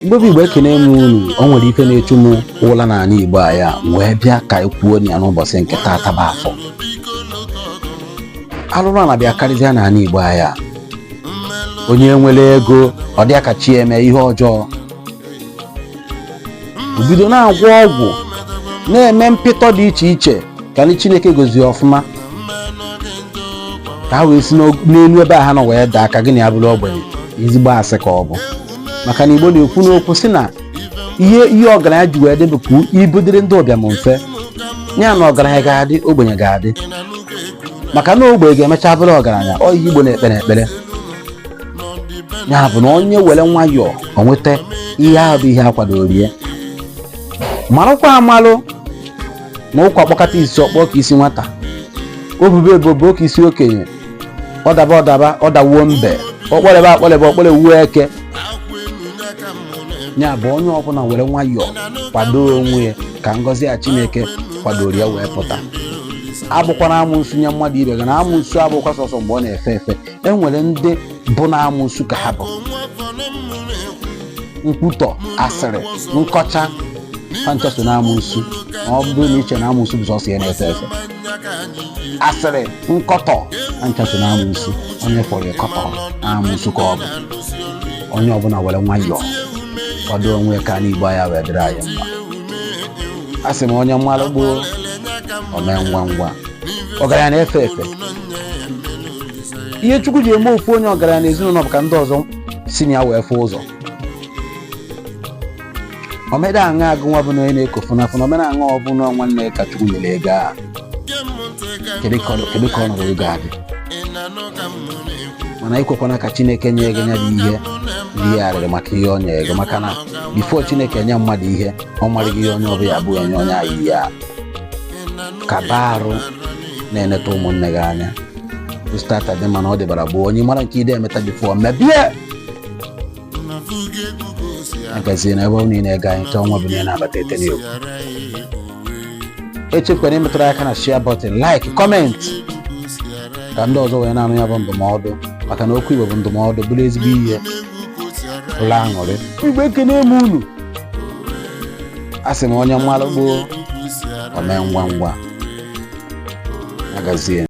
ndị be igbo ekene m unu o nwere ife na-echu m ụla n'ana igbo anyị a m wee bịa ka anyị kwuo na ya n'ụbọchị nke taata bụ afọ alụrụ ana bịa karịzịa n'ana igbo anyị a onye nwere ego ọ dịa ka chi eme ihe ọjọọ o bido na-agwọ ọgwụ na-eme mpịtọ dị iche iche ka ndị chineke gozie ọfụma ka ha wee si n'og- n'elu ebe a ha nọ wee daa ka gị na ya bụrụ ogbenye ezigbo asị ka ọ bụ maka na igbo na-ekwu n'okwu sị na ihe ihe ọgaranya ji wee dị bụ ka ibu dịrị ndị ụbịam mfe ya na ọgaranya ga-adị ogbenye ga-adị maka na ogbenye ga-emecha bụrụ ọgaranya ọ ihe igbo na-ekpere ekpere ya bụ na onye were nwayọọ o nweta ihe ahụ bụ ihe a kwadoro ya marakwa amalụ na ụkwa kpọkata isi ọ kpọọ ka isi nwata o bube ibu o buo ka isi okenye ọ daba ọ daba ọ dawuo mbe ọ kpọlebe akpọlebe ọ kpọlewuo eke ya bụ onye ọbụla were nwayọọ kwado onwe ya ka ngọzi ya chineke kwadoro ya wee pụta abụkwana amụnsu nye mmadụ ibe gị na amụnsu abụkwa sọsọ mgbe ọ na-efe efe e nwere ndị bụ na amụnsu ka ha bụ nkwutọ asịrị nkọcha ha ncha so na amụnsu ma ọ bụrụ na i che na amụnsu bụ sọsọ ihe na-efe efe asịrị nkọtọ ha ncha so na amụsụ onye fọrọ ịkọtọ na amụsụ ka ọ bụ onye ọbụla were nwayọọ kwado onwe ka ana igbo anyị a wee dịrị anyị mma a sị m onye malụ gboo o mee ngwa ngwa ọgaranya na-efe efe ihe chukwu ji eme ofu onye ọgaranya na ezinụlọ bụ ka ndị ọzọ si na ya wee fụ ụzọ omeda aṅa agụ nwa bụ na onye na-eko fụnafụna omena aṅa ọ bụ na nwanne ka chukwu nyere ego a kedu ka ọ- kedu ka ọnọdụ ego a dị mana ekwekwana ka chineke nye gị nya bụ ihe ihe arịrị maka ihe o nyere gị maka na bifo chineke nye mmadụ ihe ọ marago ihe onye ọbụla abụ enye onye ahụ ihe a ka baa arụ na-eneta ụmụnne gị anya stata dị mana ọ dịbara bụ onye mara nke ide emeta bifo mebie agazie na ebe ọ niile ga anyị chọọ nwa bụ ihe na-abata etene okwu echefukwara ịmetụrụ aka na share button like comment ka ndị ọzọ wee na-anụ ya bụ ndụmọdụ maka na okwu igbo bụ ndụmọdụ bụrụ ezigbo ihe ụlọ aṅụrị igbo ekene m unu a sị m onye malụ gboo o mee ngwa ngwa agazie